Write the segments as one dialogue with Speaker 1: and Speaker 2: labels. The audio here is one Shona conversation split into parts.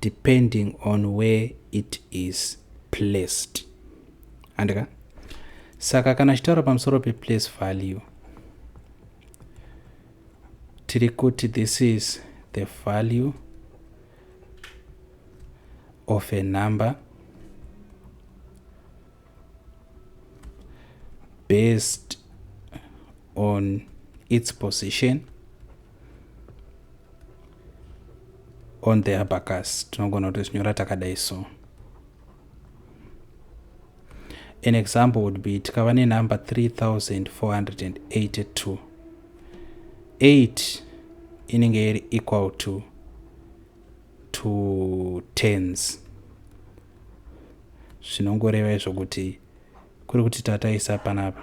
Speaker 1: depending on where it is placed handika saka kana achitaura pamusoro peplace value tiri kuti this is the value of a number based on its position on the abacus tinogona kutozvinyora takadai so an example would be tikava nenumber 3482 8 inenge iri equal to two tens zvinongoreva izvo kuti kuri kuti tataisa panapa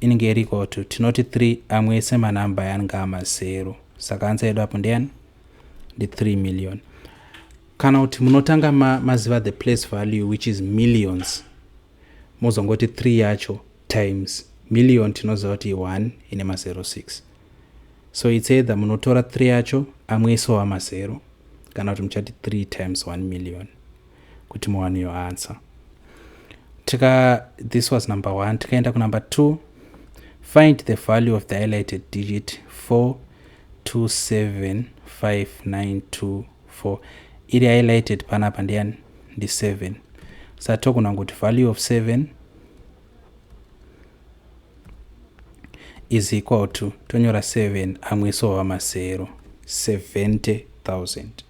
Speaker 1: inenge iri equal to tinoti 3 amwe ese manumber yange amazero saka ansa yedu apo ndeyani ndi 3 million kana kuti munotanga ma, maziva the place value which is millions mozongoti 3 yacho times million tinoziva kuti 1 ine mazero 6 so its either munotora 3 yacho amwe ese wamazero kana kuti muchati 3 times 1 million kuti muwane your answer tika this was number one tikaenda kunumber two find the value of the highlighted digit 427592 iri highlighted panapa ndiyani ndi 7 sa togona kuti value of 7 is equal to tonyora 7 amwe so wamasero 70000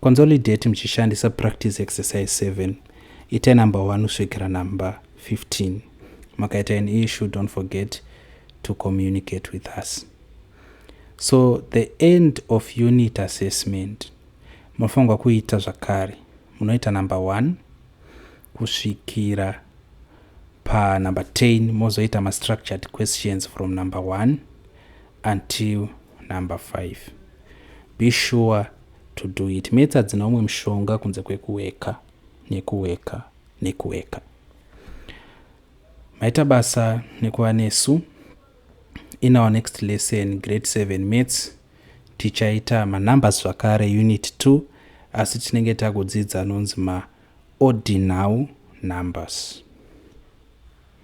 Speaker 1: Consolidate muchishandisa practice exercise 7. Itai number 1 kusvikira number 15. Makaita an issue, don't forget to communicate with us. So the end of unit assessment munofanirwa kuita zvakare munoita number 1 kusvikira panumber 10 mozoita mastructured questions from number 1 until number 5 be sure to do it mets hadzina umwe mushonga kunze kwekuweka nekuweka nekuweka maita basa nekuva nesu in our next lesson grade 7 mets tichaita manumbers zvakare unit 2 asi tinenge takudzidza anonzi maordinal numbers